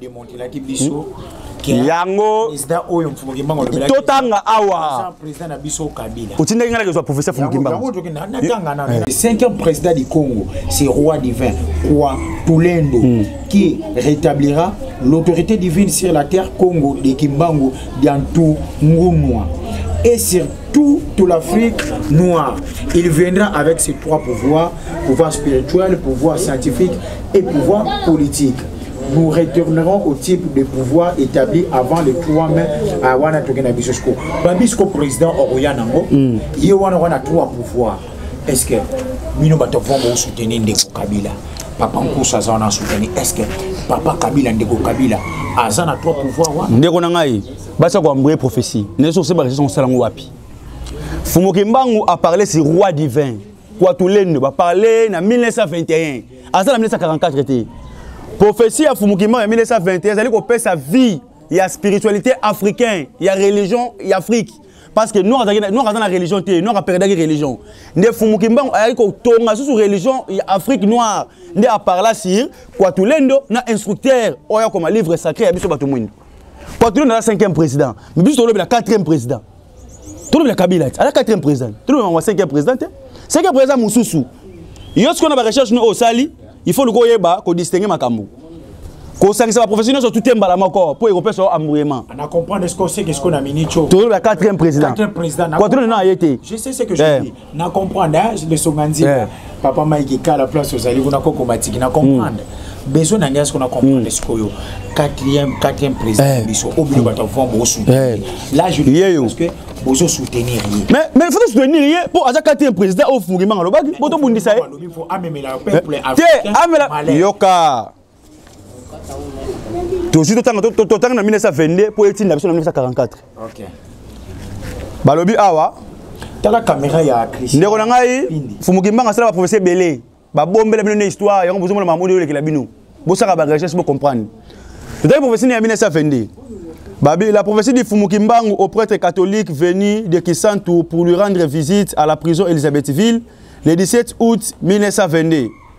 demontelaki biso yango totanga awa otindaki ngai nakezwa professeur fumukimbango5 président du congo c'est roi divin roi tulendo mm. qui rétablira l'autorité divine sur la terre congo de kimbangu diantu ngunwa et sur toute l'Afrique noire. Il viendra avec ses trois pouvoirs, pouvoir spirituel, pouvoir scientifique et pouvoir politique. nous retournerons au type de pouvoir établi avant le 3 mai à wana toke na biso siko babi siko président okoya nango mm. ye wana wana trois pouvoir est ce que bino bato vront bosoutenir ndeko kabila papa nkusu aza wana asoutenir est ce que papa kabila ndeko kabila aza na trois pouvoir wana ndeko na ngai basi akoambrie prophétie nde soki osebakisa osala yango wapi fumuki mbangu aparle si roi divin kwatulendo baparle na 1921 aza na 1944 te prophesie ya fumukima ya 1921 ezali kopesa vie ya spiritualité africain ya religion ya afrique parce que noir aza na religion te noir aperdaki religion nde fumuki mbango ayaki kotonga susu religion ya afrique noire nde aparla sur kwatulendo na instructeur oyo akoma livre sacré ya biso bato mwindo kwatulendo aza 5e président mais biso tolobela 4e président tolobela kabila te aza quatrième président tolobela yango cinquième président te cinquième président mosusu yo sikoyo na barecherche no oyo osali il faut luka oyeba kodistingue makambo kosangisa baprofessionnel nyonso tute mbala moko mpo ekopesa yo ambruyement tolobela quatrième président quatrième na ye te na comprendre hein, le songa nzima yeah. papa mike kala place ozali kuna koko matiki na comprendre mm. besoin na ngai sikoyo na comprendre mm. sikoyo quatrième quatrième président eh. biso oyo bino bato avant bosoutenir eh. là je parce que bozo soutenir ye mais mais faut soutenir ye po aza quatrième président oyo fungimanga alobaki po tobundisa ye te amela yoka tozwi totanga na 1922 mpo etinda biso na 1944 balobi awa tala kamera ya ndeko na ngai fumukimbanga asala baprofesi ebele babombela bino na histoire yango bozomona mamodi oyolekela bino bosaka barecherche bocomprendre totali profesi na ya 1922 Babi, la prophétie du Fumukimbangu au prêtre catholique venu de Kisantu pour lui rendre visite à la prison Elisabethville le 17 août 1922.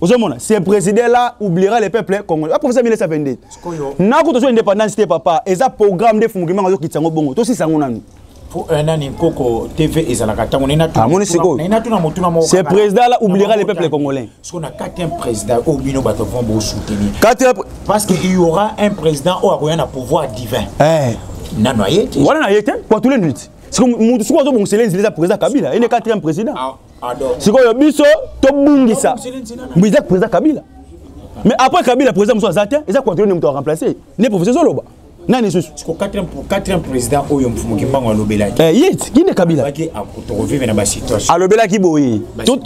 ozomona ce président là oubliera le peuple congolais baprofesa 1922 nakuta ozwa indépendance te papa eza programme nde fumukimanga azokitisa yango bongo tosisa yango nanu euh, nani nkoko tv ezalaka ntango amoni sikoyoce président là oubliera le peuple congolais siko na kati un président oyo bino bato vraimen bosoutenir parce que il y aura un président oyo akoya na pouvoir divin eh. nano aye te wana na ye te po atule nini ti siko motu siko azobongisela enzela eza président kabila ye nde quatrième président ah. sikoyo biso tobungisa mbiza président kabila mais après kabila président mosusu aza te eza controle nde moto aremplace nde professeur ezoloba nani lisusu président oyo mfumu kimbango alobelaki eh, ye kinde kabila alobelaki boye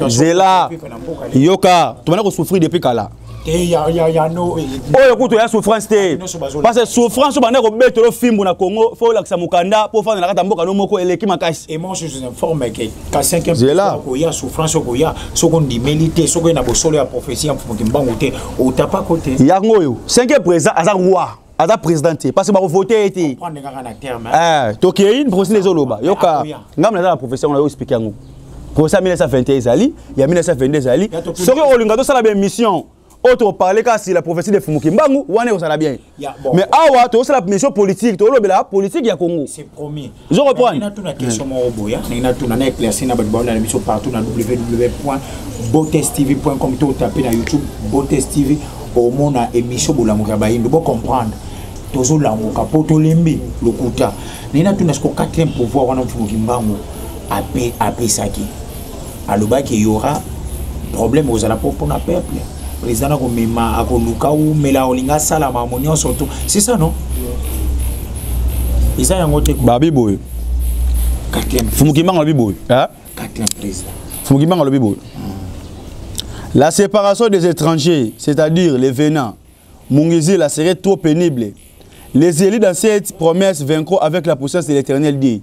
zela yoka tobanda kosouffrir depuis kala oyo kutu ya souffrance te parce que souffrance oyo banda kobeta yo fimbu na congo fo olakisa mokanda mpo ofanda na kati ya mboka no moko eleki makasi koya souffrance okoya soki ondimeli te soki oye na bosolo ya prophesie ya mfumu kimbangu te otapako te yango oyo cinquième président aza roi aza président te parce que bakovote ye te eh, tokei professeur ezoloba yoka ngambo naza na professeur ngo nayo explike yango professeur ya 1921 ezali ya 1922 ezali soki olinga tosala baémission oyo tokoparle kaka si la prophétie de fumuki mbangu wana ekozala bien mais awa tokosala mission politique tokolobela politique ya congo ozo comprendre natuna question moko boya ndenge natuna na éclairci na bato baona na biso partout na www point botes tv point com to otape na youtube botes tv omona émission bolamuka ya bayindo bocomprendre tozolamuka mpo tolembi lokuta ndenge natuna siko quatrième pouvoir wana mfumu kimbangu apesaki alobaki eyora problème kozala mpo mpona peuple président akomema akoluka umela olinga asala makambo nyonso to c'est ça non eza yango te babi boye fumukimanga alobi boye fumukimanga alobi boye la séparation des étrangers c'est-à-dire les venants mungizila serait trop pénible les élus dans cette promesse vaincront avec la puissance de l'éternel dit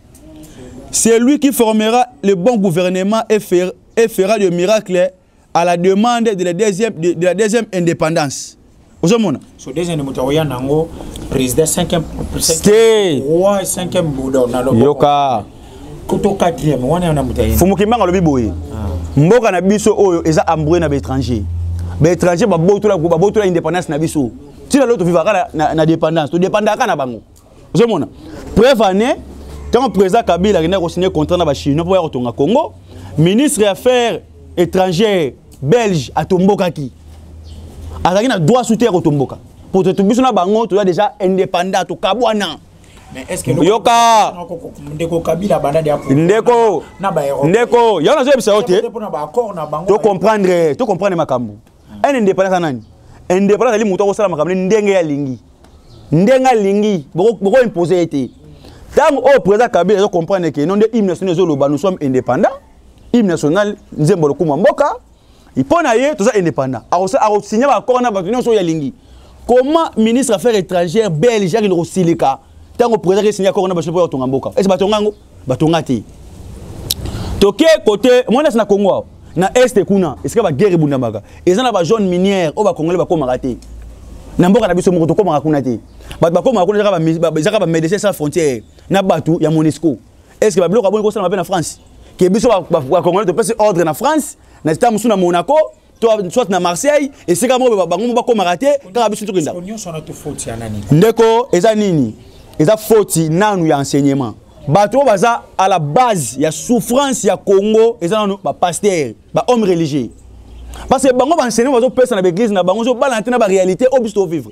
C'est lui qui formera le bon gouvernement et fera, et fera le miracle à la demande de la deuxième, de, de la deuxième indépendance. ozomona so deuxième moto akoya nango président cinquième roi cinquième bouda yoka kuto quatrième wana yana moto aye fumu kimbanga alobi boye ah. mboka na biso oyo eza ambrue na baétranger baétranger babotola babotola indépendance na biso tina lelo tofivaka na, na, na dépendance todépendaka na bango ozomona preuve année ntango président kabila akendaki kosigne contrat na bachinois mpo ya kotonga congo ministre ya affaire étrangère belge atombokaki azalaki na droit sute ya kotomboka mpo totu biso na bango toza déjà indépendant tokabwana yoka ndeko kabila banda dia ndeko na ba ndeko yango nazoyebisa yo te to comprendre to comprendre makambo un indépendant aza nani indépendant azali moto akosala makambo ne ndenge ye alingi ndenge alingi bokoimpose ye te ntango oyo président kabila azo comprendre ke no nde hymne national ezoloba nous sommes indépendant hymne national nzembo lokumu ya mboka mpo na ye toza indépendant akosigne baaccord na bato nyonso oyo alingi comment ministre affaire étrangère belge akende kosilika ntango président akesigne accord na bato mpo ya kotonga mboka ese batonga yango batonga te toke kote mwanasi na congo awa na este kuna esika baguerre ebundamaka eza na bazone minière oyo bakongole bakomaka te na mboka na biso moko tokomaka kuna te bato bakomaka kuna ezaka bamédecin sans frontière na bato ya monesco est ce que babiloko aboni kosalama mpe na france ke biso bakongole topesi ordre na france na zita mosusu na monaco to soit na marseille esika moko bango bakomaka te kaka biso tokenda ndeko eza nini eza foti nanu ya enseignement bato oyo baza à la base ya souffrance ya congo eza nanu bapaster bahomme religieux parce que bango baenseignement bazopesa na baeglise na bango ezobala na te na baréalité oyo biso tovivre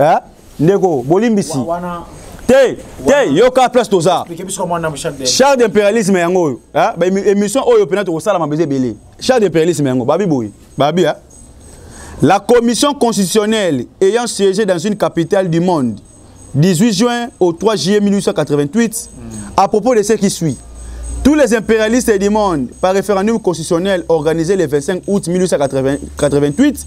eh? ndeko bolimbisi te te yoka place toza char d'impérialisme yango oyo eh? émission oyo mpena tokosalama beza ebele char d'impérialisme yango babi boye babi eh? la commission constitutionnelle ayant siégé dans une capitale du monde 18 juin au 3 juillet 1888 mm. à propos de ce qui suit Tous les impérialistes du monde, par référendum constitutionnel organisé le 25 août 1888,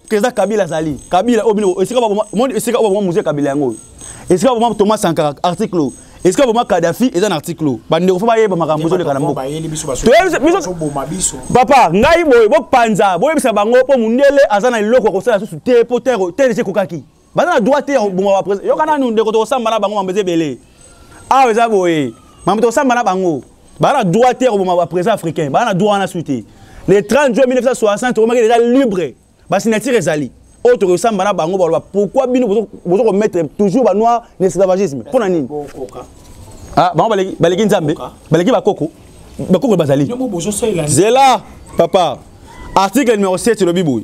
eza kabila azali kabila oyo bino esika baboma moni esika oyo baboma mozia kabila yango esika baboma thomas sankara article esika boma kadafi eza na article oyo bandeko fo bayeba makambo ezoleka na mboka papa ngai boye bopanza boyebisa bango mpo mondele aza na eloko ya kosala susu te mpo terre ekokaki baza na droit te ya koboma bapresi yoka nanu ndeko tokosamba na bango mambo eza ebele awa eza boye mambo tokosamba na bango baza na droit te ya koboma bapresidan africain baza na droit wana su te le 30 juin 1960 tokomaki deja libre basignature ezali oyo tokoki kosamba na bango baloba pourquoi bino bozo komettre toujours banoir na esclavagisme mpo na nini ah, bango baleki nzambe baleki bakoko bakoko bazali zela papa article numéro 7 elobi boye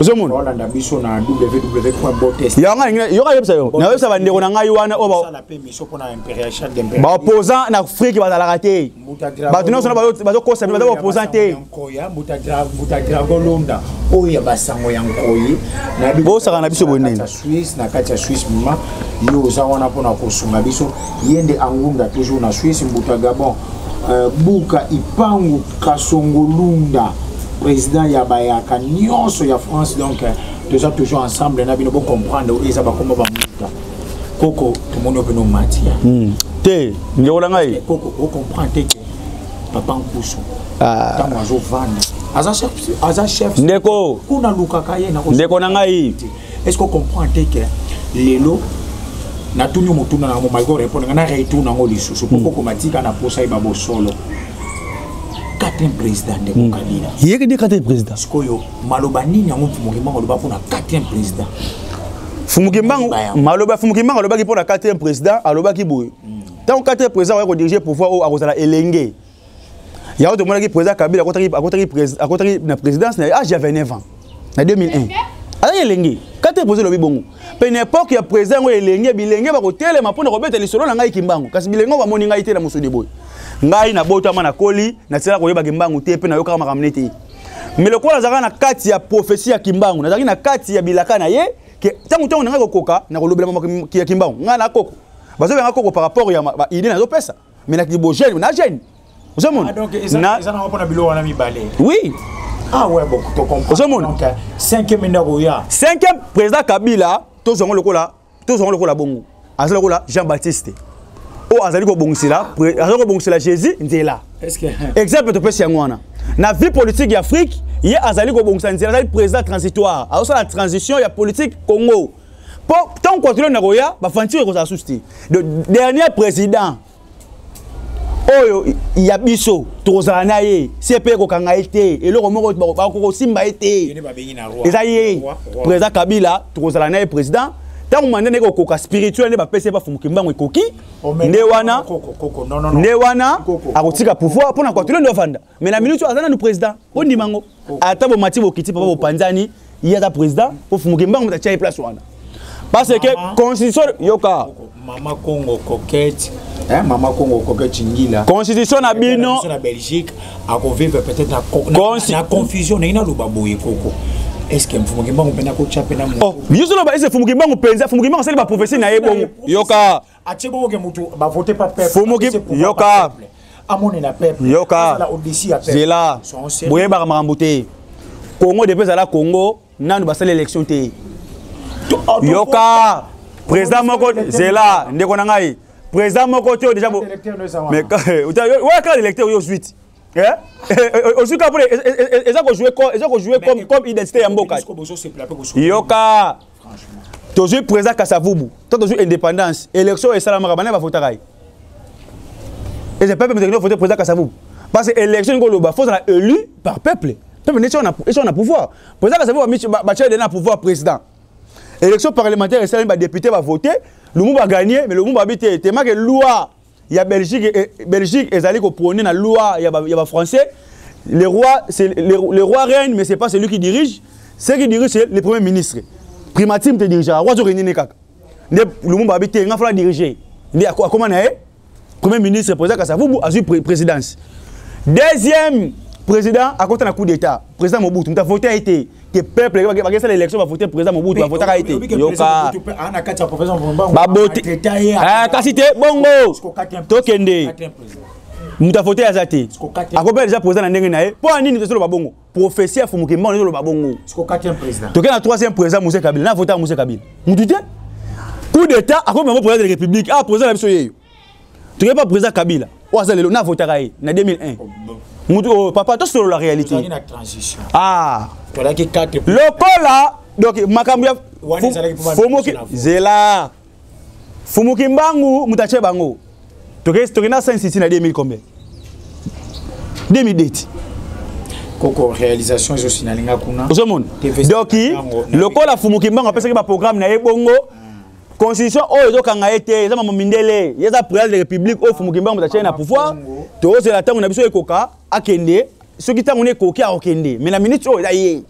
ozomona yoka yebisa yo nayebisa bandeko na ngai wana oyo baopposant na afrike bazalaka te bato nyonso na bazokosa baza baopposant te bosaka na biso bonene yo oza wana mpona kosunga biso ye nde angunda toujours na suisse mbuta gabon Euh, buka ipangu kasongo lunda président ya bayaka nyonso ya france donc euh, toza toujours ensemble na bino bocomprendre oyo eza bakoma bamuta koko tomoni oyo pene omatia hmm. te ndeko na ngai koko ocomprendre te ke papa nkusu ntango ah. azovanda aza chef ndeko kuna alukaka ye ndeko na ngai est ce que comprend te que lelo natuni motuna nango mai korepondre nga na retour nango lisusu mpo kokoma hmm. tika na posa yeba bosolo quatrième président ndeko hmm. kabila yeke nde quatrième président sikoyo maloba nini yango mfumukimango aloba mpo na quatrième président fumukimbango maloba fumukimbango alobaki mpo na quatrième président alobaki boye ntango hmm. quatrième président akoya kodirige pouvoir oyo akozala elenge yango tomonaki président kabila akotaki na présidence na age ya 29 ans na 2001 azali elenge kati epoze elobi bongo mpe na epoke ya président yango elenge bilenge bakotelema mpo na kobeta lisolo na ngai kimbangu kasi bilenge yango bamoni ngai te na mosuni boye ngai nabotama nakoli natikala koyeba kimbangu te mpe nayokaka makambo ne te me lokola nazalaka na kati ya profesi ya kimbangu nazalaki na kati ya bilaka na ye ntango ntango na ngai kokoka nakolobela makambo ya kimbangu ngai na koko bazobengaka koko par rapport ya baide nazopesa mais na kibo jeune na jeune ozomona ah, eza nango mpona bilo wana mibale oui ah ouais bon to comprendre ozomona euh, cinquième enda koya cinquième président kabila tozwa yango lokola tozwa yango lokola bongo aza lokola jean baptiste oyo azali kobongisela azali kobongisela jésus nzela exemple topesi yango wana na vie politique ya afrique ye azali kobongisa nzela azali président transitoire azosala transition ya politique congo mpo ntango controle na koya bafantire ekozala susu te le dernier président oyo ya biso tokozala na ye se mpe kokanga ye te eloko moko bakokosimba ye te eza ye président kabila tokozala na ye président ntango manda ndenge kokoka spirituel nde bapesi ye bafumuki mbango ekoki nde wana nde wana akotika pouvoir mpo na kwatule nde ofanda mais na minute aza nanu président bondima yango ata bomati bokiti papa bopanzani ye aza président ofumuke mbango moto atya ye place wana parce que constitution yoka mama congo coquette hein, mama congo coquette ngila constitution na bino na belgique akovivre peut-être na, Consti... na confusion ndenge naloba boye koko eske mfumuki mbangu mpe nakotya mpe na moto oh, biso loba ese fumuki mbangu mpenza fumuki mbangu asali baprophesie na ye bongo yoka atie bongo ke mutu ba vote pa peuple fomoki yoka amonela peuple yoka zela boyebaka makambo te congo depuis ezala congo nanu basala élection te yoka président moko zela ndeko na ngai président moko te déjà oya kaka électeur oyo ozwi ti ozwi kaka mpo eza kojoue comme identité ya mboka yoka tozwi président kasavubu to tozwi indépendance élection oyo esalamaka bana bavotaka ye eza peuple mizakino vote président kasavubu parce que élection ningo oloba fozala élu par peuple peuple nde esi na pouvoir président kasavubu batya ede na pouvoir président élection parlementaire esalami badéputé bavote lumumba gagne mais lumumba abi te temake loi ya belgique eh, belgique ezali koprone na loi ya bafrançais ba le roi le, le roi règne mais c'est pas celui qui dirige ce qui dirige c'est le premier ministre primatime te dirigeaka roi azokende ne kaka nde lumumba abi te nga fala dirige nde akoma na ye premier ministre président kasavubu azwi présidence deuxième président akota na coup d'état président mobutu moto avote ye te que peuple bakesala élection bavote président mobutu bavotaka ye te yoka baboti eh, kasi te bongo tokende moto avote aza te akobela deja président na ndenge na ye mpo ya nini tozoloba bongo prophétie ya fumuke mbano ezoloba bongo toke na troisième président mose kabila na avotaka mose kabila motu te coup d'état akomi bango président de république a ah, président na biso yeyo toke pa président kabila oyo aza lelo navotaka ye na 2001 mutu oyo oh, papa tosolola réalité ah lokola donc makambo ya fomoki zela fumuki mbangu moto atye bango toke na saint city na 2000 combien 2002 ti koko réalisation ezosi nalinga kuna ozomona doki lokola fumuki mbangu apesaki baprogramme na ye bongo constitution oyo ezokanga ye te eza mama mindele ye eza président de république oyo fumuki mbango motatye na pouvoir tozela ntango na biso ekoka akende soki ntango nekoki akokende mai na minute oyo eza ye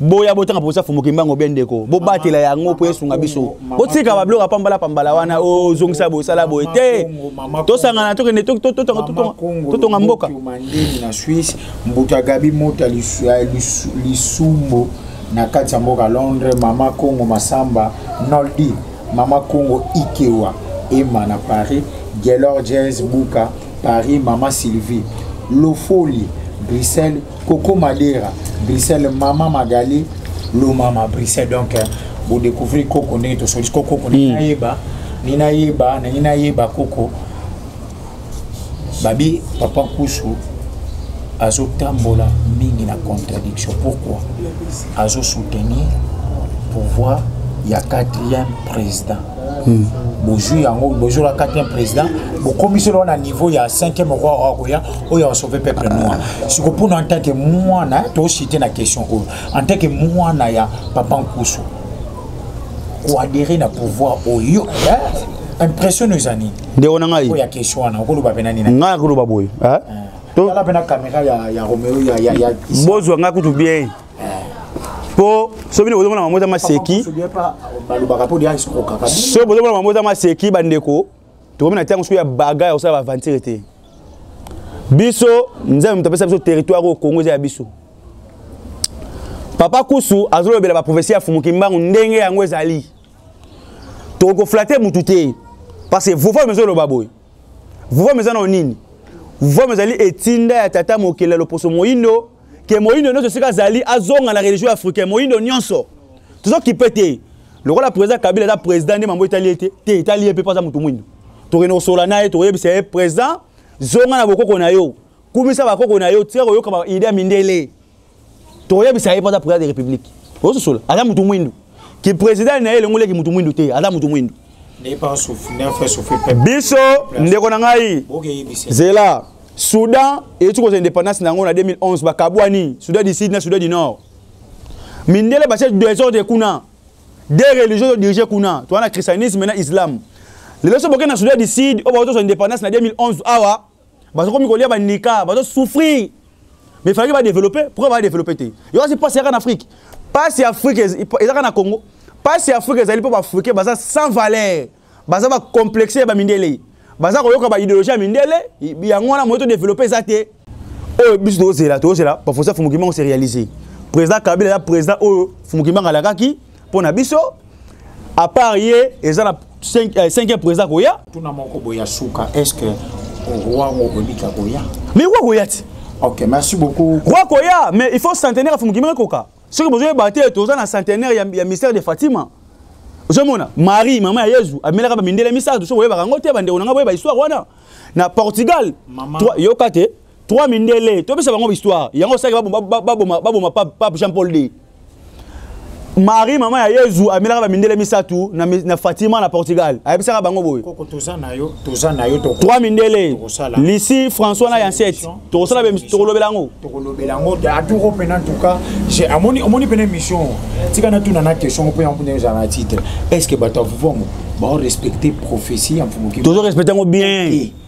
boya botanga mposa fumuki mbango bie ndeko bobatela yango mpo esunga biso botika babiloko ya pambala pambala wana ozongisa oh, boye sala boye te tosangana tokende totonga mboka na swisse mbuta gabi mota lisumbo na kati ya mboka londres mama congo masamba noldi mama congo ikewa ema na paris gelor jazz buka paris mama sylvie lofoli bruxelles koko madera bruxelles mama magali lomama bruxelles donc eh, bodécouvrir koko ndenge tosolisi kokoko hmm. nayeba ninayeba naninayeba koko babi papa nkusu azotambola mingi na contradiction pourquoi azosoutenir pouvoir ya quatrième président hmm. bozwi yango bozwi la quatrième président bokomisi loo na niveau ya cinquième roi oyo akoya oyo asauve peuple noir siko mpona en tant que mwana tosite na question oyo en tant que mwana ya papa nkusu koadere na pouvoir oyo eh, impression eza nini ndeko na ngai ngai akoloba boye eh? bozwa ngai kutu bien mpo soki bino bozomona mamota maseki soki bozomona mamota maseki bandeko tokomi na ntango soki ya baga ya kosala baaventire te biso nzambe moto apesa biso territoire oyo kongo eza ya biso papa kusu azolobela baprofesi ya fumuki mbangu ndenge yango ezali tokoki koflate motu te parce que vova mezo eloba boye vova meza nao nini vova mezali etinda ya tata mokeli ya loposo moindo ke moindo nyonso esika azali azonga na religion africain moindo nyonso tozokipe te lokola président kabila aza président nde mambo etali ye te te etali ye mpe mpo aza motu moindo tokende kosola na ye tokoyebisa ye président zonga na bokoko na yo kumisa bakoko na yo tika koyoka baide ya mindele toyebisa ye mpo aza président de république ososola aza motu mwindu ki président na ye elongoleki motu mwindu te aza motu mwindu biso ndeko na ngai zela soudan eyeti kozwa indépendance na yango na 2011 bakabwani soudan du sud na soudan du nord mindele batie desordre kuna de religion todirige kuna towana christianisme na islam lelo so boke na soudan du sud oyo bakozwa indépendance na 2011 awa bazo komi kolia ba nika bazo souffrir mais fallait ba développer pourquoi ba développer te yo asi passe yaka na Afrique passe ya Afrique ezaka na Congo passe ya Afrique ezali po ba Africains baza sans valeur baza ba complexer ba mindele baza koyoka ba idéologie ya mindele yango wana moto développer eza te oyo oh, biso tozela tozela professeur Fumukimanga se réaliser président Kabila ya président oyo oh, Fumukimanga alakaki mpo na biso apart ye eza na 5 euh, président koya tuna moko boye ya suka est ce que roi ngo kobika koya mais roi koya ti ok merci beaucoup roi koya mais il faut centenaire afumukimi ekoka soki bozoyeba te toza na centenaire ya, ya mystère de fatima ozomona marie mama ya yezu amelaka bamindele misato soki oyebaka yango te bandeko na ngai boyeba histoire wana na portugal yoka te trois mindele topesa bango histoire yango osaki baboma pape jean paul d marie mama ya yezu amelaka bamindele misato na, na fatima na portugal ayebisaka bango boye trois mindele lisi françois na yansete tokosala tokolobela yango tokolobela yango aturo mpena antuka omoni mpena émission tika natuna na question mpo yango mpena ezala na titre est ce que bato ya vuvango baorespecte prophétie ya mfumoki tozo respecte yango bien okay.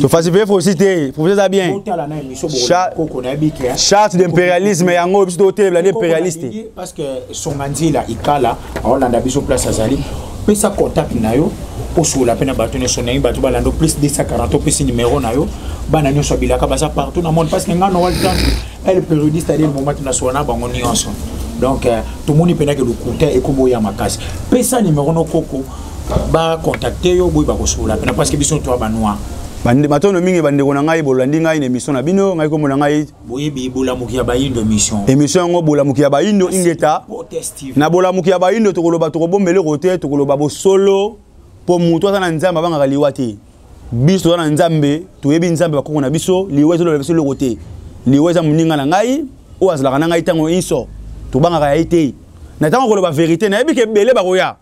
tofasipe fosi te profete eza bien charte d'impérialisme yango biso totelebela nde impérialiste pesa contact na yo osola mpe na bato nyonso nayi bato balanda plus 240 opesi numero na yo bana nyonso abilaka baza partout na monde parce que ngai noel tantu ele periodiste adele momati na sola na bango nyonso donc euh, tomoni mpenaki lokuta ekoboya makasi pesa numero no koko ba contacter yo boye bakosolola pena parce que biso toi ba noir matondo mingi bandeko na ngai bolandi ngai na émission na bino ngai komona ngai boyebi bolamuki ya bayindo émission émission yango bolamuki ya bayindo ingeta na bolamuki ya bayindo tokoloba tokobomba eloko te tokoloba bosolo mpo moto aza na nzambe abangaka liwa te biso toza na nzambe toyebi nzambe bakoko na biso liwa ezoloba biso eloko te liwa eza moninga na ngai oyo azalaka na ngai ntango inso tobangaka ya ye te na ntango koloba verité nayebi ke ebele bakoya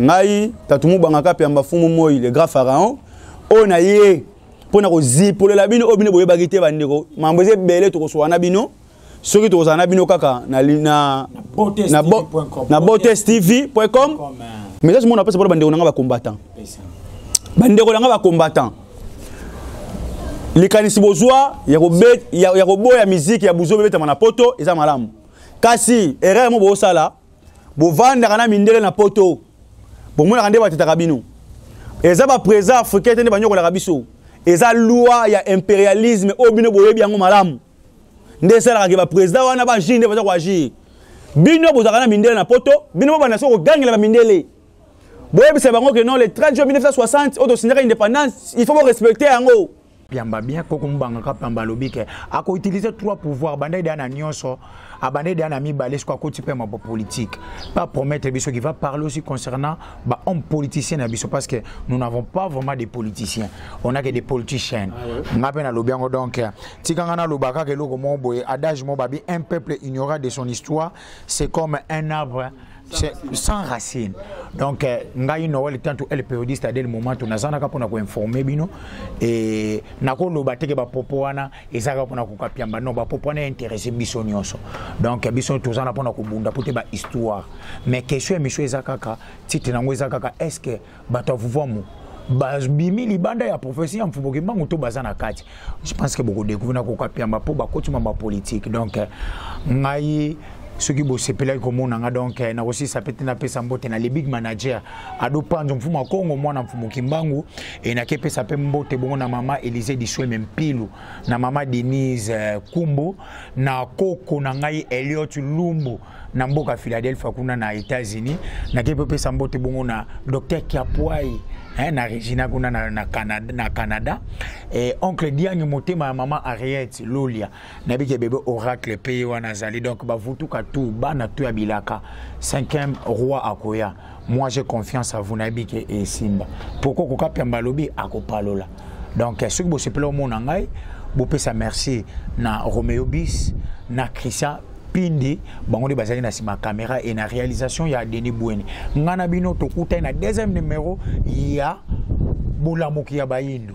ngai tatu mubanga kapi ya mbafumu moi le grand pharaon oyo na ye mpo na kozipolela bino oyo bino boyebaki te bandeko mambo eza ebele tokosoka na bino soki tokozala na bino kaka na, na, na, bo, na botes tv com mais kasi mona apesa mpona bandeko na ngai bacombattant bandeko na ngai bacombattant likanisi bozwa ya koboya miziki ya buzo bebetama na poto eza malamu kasi erreur mo bosala bovandaka na mindele na poto bomonaka nde batetaka bino eza baprésident africain te nde banyokolaka biso eza loi ya impérialisme oyo bino boyebi yango malamu nde esalaka ke baprésident wana baagir nde baza koagir bino bozalaka na mindele na poto bino bobanda soki kogangela bamindele boyebisa bango ke non le 30 juin 1960 oyo tosinyaka indépendance il faut borespecte yango piamba bien koko mubanga ka piamba alobi ke ako utiliser trois pouvoir bandaki deya na nyonso abandaki deya na mibale soko akoti mpe mabo politique pa promettre biso qui va parler aussi concernant ba homme politicien na biso parce que nous n'avons pas vraiment des politiciens on a que des politiciens ah nga mpe nalobi yango donc tika nga naloba kaka eloko moko boye adage moko babi un peuple ignorat de son histoire c'est comme un arbre sans racine donc euh, ngai noel tantu el periodiste adel momento nazanaka mpona koinforme bino e nakoloba teke bapopo wana ezalaka mpona kokapiamba non bapopo wana interesse biso nyonso donc biso tozana mpona kobunda mpo te bahistoire mais question ya misio eza kaka titre na yango eza kaka est ce que bato ya vuvuamu babimi libanda ya profesi ya mfubo kimbangu to baza na kati je pense ke bokodekuvre na kokapiamba mpo bakoti mamba politike donc eh, ngai soki bosepelaki komona nga donc eh, nakosisa mpe te napesa mbote na le big manager ado panzo mfumu ya kongo mwana mfumu kimbangu e nakepesa mpe mbote bongo na mama elise disweme mpilu na mama denise eh, kumbu na koko na ngai eliot lumbu na mboka philadelphia kuna na états-unis nakei mpe opesa mbote bongo na docteur kiapuai eh, na regina kuna na, na, canada, na canada eh, oncle diangi motema ya mama ariette lolia nayebi ke bebe oracle mpe ye wana azali donc bavutuka tu bana tu ya bilaka cinquième roi akoya moi j'ai confiance à vous nayebi ke esimba pourquoi koka piamba alobi akopalola donc soki bosepela omona ngai bopesa merci na romeo bis na christian pindi bango nde bazalaki na nsima caméra et na réalisation ya denis bweni ngai na bino tokutani na deuxième numéro ya bolamuki ya bayindo